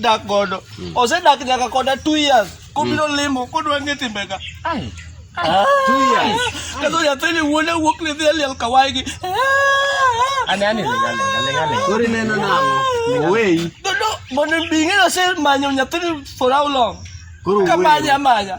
dak godo hmm. osedak nyaka koda two years kobiro hmm. limo kodwa ng'e timbega ah. kendo nyathini wuone wuok ni dhi e liel kawaygi kori neno nang'o oweyi mondo bing'e nosemanyo nyathini for how long kamanya amanya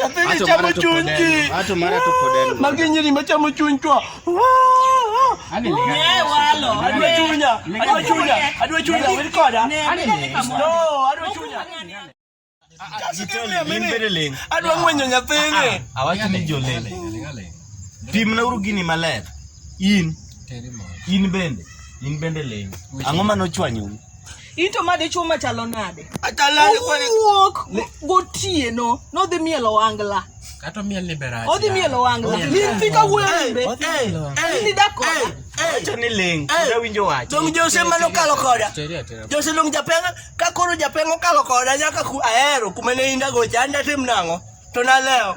Nyathini chamo chuny ji. Ato mara to pod en. Magi nyiri machamo chuny chwa. Ani ni. Ne walo. Adwa chunya. Adwa chunya. Adwa chunya. Wil koda. Ani ni. No, adwa chunya. Adwa ngwenyo nyathini. Awacho ni jolele. Pim na uru gini maler. In. In bende. In bende leng. Ang'o manochwanyo? Into ma dichuo machalo nade? Atalale kwa Owuok gotieno nodhi mielo wangla. Kato miel ni beracha. Odhi mielo wangla. Odhi mielo Nidhi ka wuoyo wangla. imbe. Odhi mielo wangla. Nidhi dak koda. Wacho ni ling. Uda winjo wacho. Dong Jose mano kalo koda. Teri atera. Jose dong japenga ka koro japenga okalo koda nyaka ku ahero kuma ne indago cha anda tim nang'o to nalewo.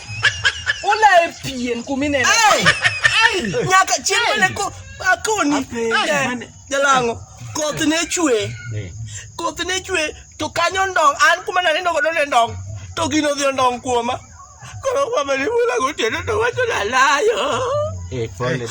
Ula epien kumine. Ai! Ai! Nyaka chiemo ne ko akoni. Eh, Jalango. Koth ne chwe. Eh. Koth ne chwe to kanyo ndong an kuma na nindo godo ne ndong. To gino dhi ndong kuoma. Koro kwa mali mula gotieno to wacho nalayo. Eh, pole.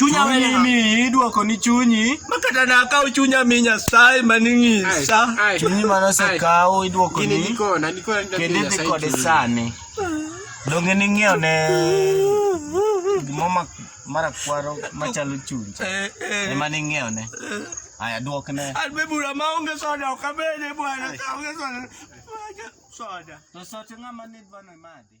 chunya wele mi idwoko ni chunyi makata na kaw chunya mi nyasaye maningi sa chunyi mana se kaw idwoko ni niko na niko na kende dhi kode sani donge ni ng'eyo ne gimoma mara kwaro machalo chunyi eh, eh. ema ni ng'eyo ne eh. aya dwok ne an be bura ma onge soda ok abede bwana ka onge soda soda to sote ng'ama nidwano imadhi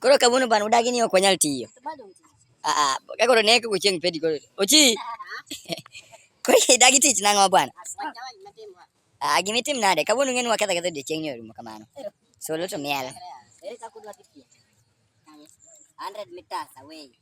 Koro kawuono bana udagi ni ok wanyal tiyo. Ah, ka koro ne koko chieng' pedi koro. Ochi. Koro idagi tich nang'o bwana? Ah, gima itim nade? Kawuono ng'eni waketho ketho odiechieng' ni orumo kamano. So loto miel. Ere kaka udwa dhi piem? 100 meters away.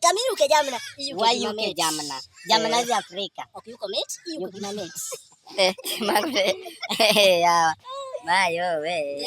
Kami yuke jamna. Why yuke jamna? Jamna is Africa. Okay, yuko met? Yuko kina met. Eh, magre. Eh, ya. Mayo we.